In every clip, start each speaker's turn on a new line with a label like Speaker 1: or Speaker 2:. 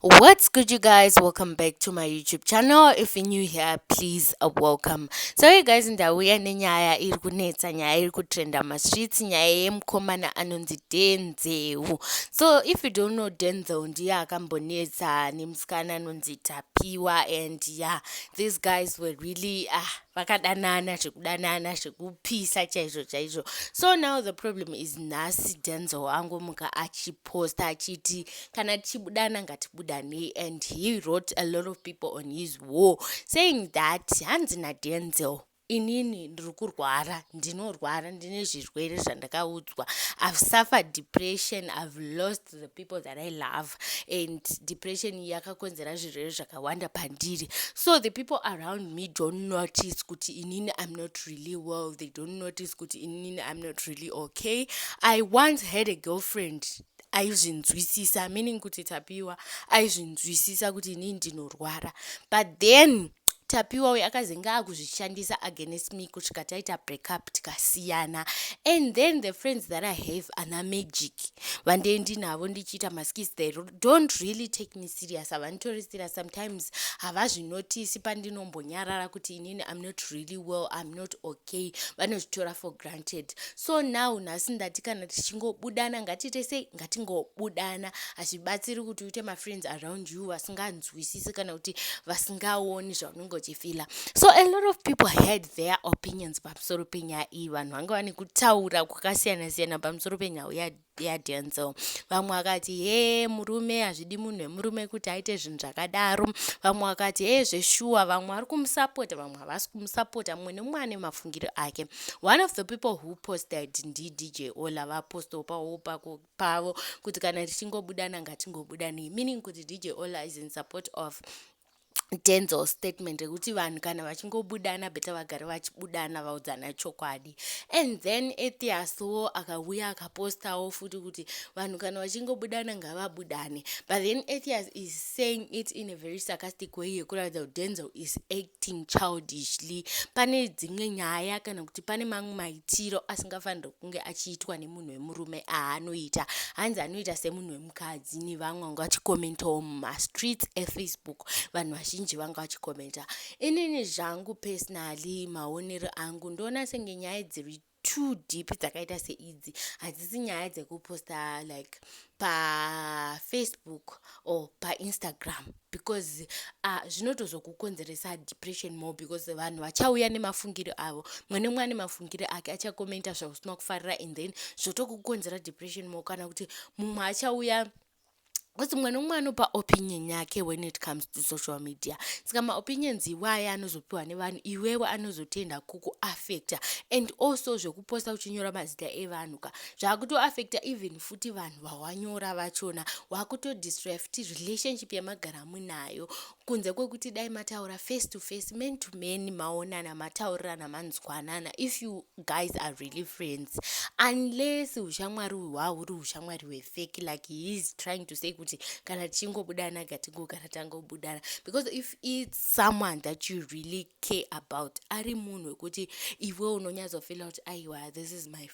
Speaker 1: what's good you guys welcome back to my youtube channel if you're new here please uh, welcome so you guys ndauya nenyaya iri kunetsa nyaya iri kutrenda mastreets nyaya yemukomana anonzi denzeu so if you don't know denzel ndiye akambonetsa nemusikana anonzi tapiwa and yeah these guys were really ah uh, vakadanana zvekudanana zvekupisa chaizvo chaizvo so now the problem is nhasi denzel angomuka achiposta achiti kana tichibudana ngatibudanei and he wrote a lot of people on his war saying that hanzi nadenzel inini ndiri kurwara ndinorwara ndine zvirwere zvandakaudzwa i've suffered depression i've lost the people that i love and depression yakakonzera zvirwere zvakawanda pandiri so the people around me don't notice kuti inini i'm not really well they don't notice kuti inini i'm not really okay i once had a girlfriend aizvinzwisisa meaning kuti tapiwa aizvinzwisisa kuti inini ndinorwara but then tapiwa uyo akazenge akuzvishandisa against me kusvika taita breakup tikasiyana and then the friends that i have ana magic vandee ndinavo ndichiita maskis they don't really take me serious havanitori serious sometimes havazvinotisi pandinombonyarara kuti inini i'm not really well i'm not okay okay vanozvitora for granted so now nhasi ndati kana tichingobudana ngatiite sei ngatingobudana hazvibatsiri kuti uite mafriends around you vasinganzwisisi kana kuti vasingaoni zvaunenge uchifila so a lot of people had their opinions pamusoro penyaya iyi vanhu vanga vane kutaura kwakasiyana siyana pamusoro penyaya yaDenzel vamwe vakati hee murume hazvidi munhu wemurume kuti aite zvinhu zvakadaro vamwe vakati hee zveshuwa vamwe vari kumusapota vamwe havasi kumusapota mumwe nemumwe ane mafungiro ake one of the people who posted ndidj ola vapostawo pawo pako pavo kuti kana tichingobudananga tingobudanei meaning kuti dj ola is in support of denzel statement rekuti vanhu kana vachingobudana beta vagare vachibudana vaudzana chokwadi and then etiaswo akauya akapostawo futi kuti vanhu kana vachingobudana ngavabudane but then etias is saying it in a very sarcastic way yekuratidza kuti denzel is acting childishly pane dzimwe nyaya kana kuti pane mamwe maitiro asingafaniri kunge achiitwa nemunhu wemurume aanoita hanzi anoita semunhu mukadzi nevamwe vanga vachikomentawo mumastreets efacebook vanhu vazhinji vanga vachikomenta inini zvangu personally maonero angu ndoona senge nyaya dziri too deep dzakaita seidzi hadzisi nyaya dzekuposta like pafacebook or painstagram because ah, zvinotozokukonzeresa depression more because vanhu vachauya nemafungiro avo mwe nemwe ane mafungiro ake achakomenta zvausina kufarira and then zvotokukonzera depression more kana kuti mumwe achauya kuti mwana umwe anopa opinion yake when it comes to social media saka maopinions iwaya anozopiwa nevanhu iwewe anozotenda kukuaffecta and also zvekuposta uchinyora mazita evanhu ka zvaakutoaffecta even futi vanhu vawanyora vachona wakutodestroya futi relationship yamagara munayo kunze kwekuti dai mataura face to face man to man maonana mataurirana manzwanana if you guys are really friends unless ushamwari uyu hwauri ushamwari hwefeki like he is trying to say kuti kana tichingobudana gatigogara tangobudana because if its someone that you really care about ari munhu wekuti iwe unonyatsofila kuti aiwa this is my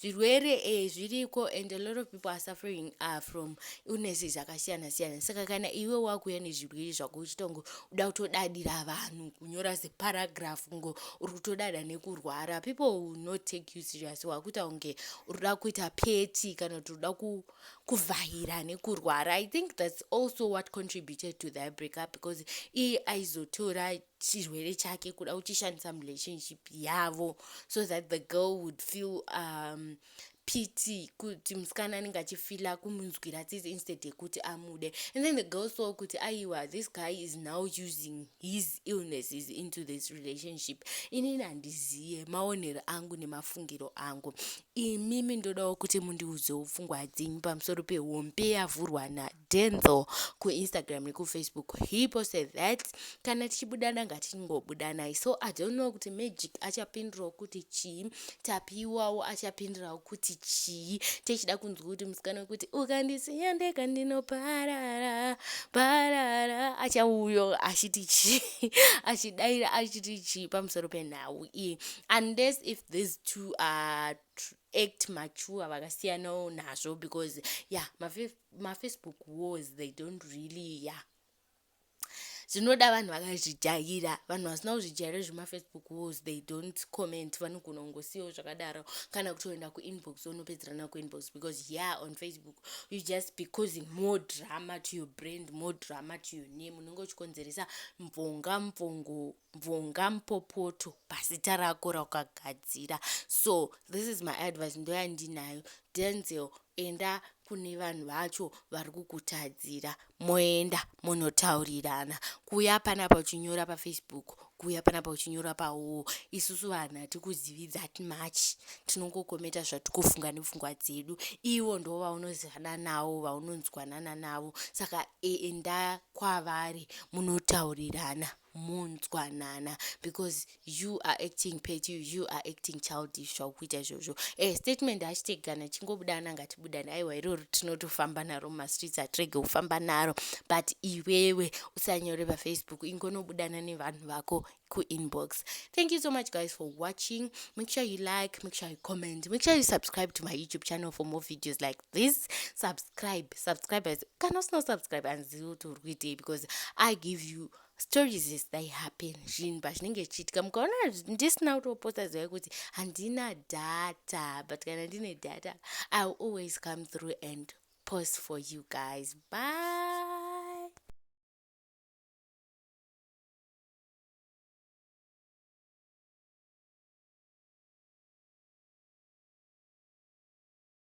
Speaker 1: zvirwere eh, zviriko and a lot of people are suffering uh, from illnesses akasiyana siyana saka kana iwe wakuuya nezvirwere zvako uchitongo uda kutodadira vanhu kunyora zeparagraph ngo uri kutodada nekurwara people will not take you serious wakuita kunge uri kuda kuita peti kana kuti uda kuvhahira nekurwara i think that's also what contributed to that breakup because iye aizotora chirwere chake kuda uchishandisa relationship yavo so that the girl would feel um, pity kuti musikana anenge achifila kumunzwira tsitsi instead yekuti amude and then the girl saw kuti aiwa this guy is now using his illnesses into this relationship inini handiziye maonero angu nemafungiro angu imimi ndodawo kuti mundiudzewo pfungwa dzenyu pamusoro pehombe yavhurwa na Denzel kuInstagram nekuFacebook he posted that kana tichibudana ngatingobudanai so I don't know kuti Magic achapindirawo kuti chii Tapiwawo achapindirawo kuti chii techida kunzwa kuti musikana wekuti ukandisiya ndega ndinoparara parara achauyo achiti chii achidaira achiti chii pamusoro penhau iyi unless if these two are act mature vakasiyanawo nazvo because ya yeah, mafacebook wars they don't really ya zvinoda vanhu vakazvijaira vanhu vasina kuzvijaira zvemafacebook wars they don't comment vanogona kungosiyawo zvakadaro kana kutoenda kuinbox onopedzerana kuinbox because ya on facebook you just be causing more drama to your brand more drama to your name unenge uchikonzeresa mvonga mvongo mvonga mupopoto pasita rako rakagadzira so this is my advice ndoyandinayo denzel Enda kune vanhu vacho vari kukutadzira moenda monotaurirana. Kuuya panapa uchinyora paFacebook, kuuya panapa uchinyora pawall, isusu vanhu hatikuzivi that much. Tinongokometa zvatiri kufunga nepfungwa dzedu. Ivo ndo vaunozivana navo, vaunonzwanana navo. Saka enda kwavari munotaurirana. munzwanana because you are acting pet you, you are acting childish zvakukuita izvozvo e eh, statement hachiteki kana tichingobuda ana ngatibudane aiwa iroro tinotofamba naro mumastreets hatirege kufamba naro but iwewe usanyore pafacebook ingonobudana nevanhu vako kuinbox thank you so much guys for watching make sure you like make sure you comment make sure you subscribe to my youtube channel for more videos like please subscribe subscribers kana usina kusubscribe hanzivi kuti uri kuitei because i give you stories as they happen zvinhu pazvinenge zvichiitika mukaona ndisina kutoposta zivai kuti handina data but kana ndine data i will always come through and post for you guys bye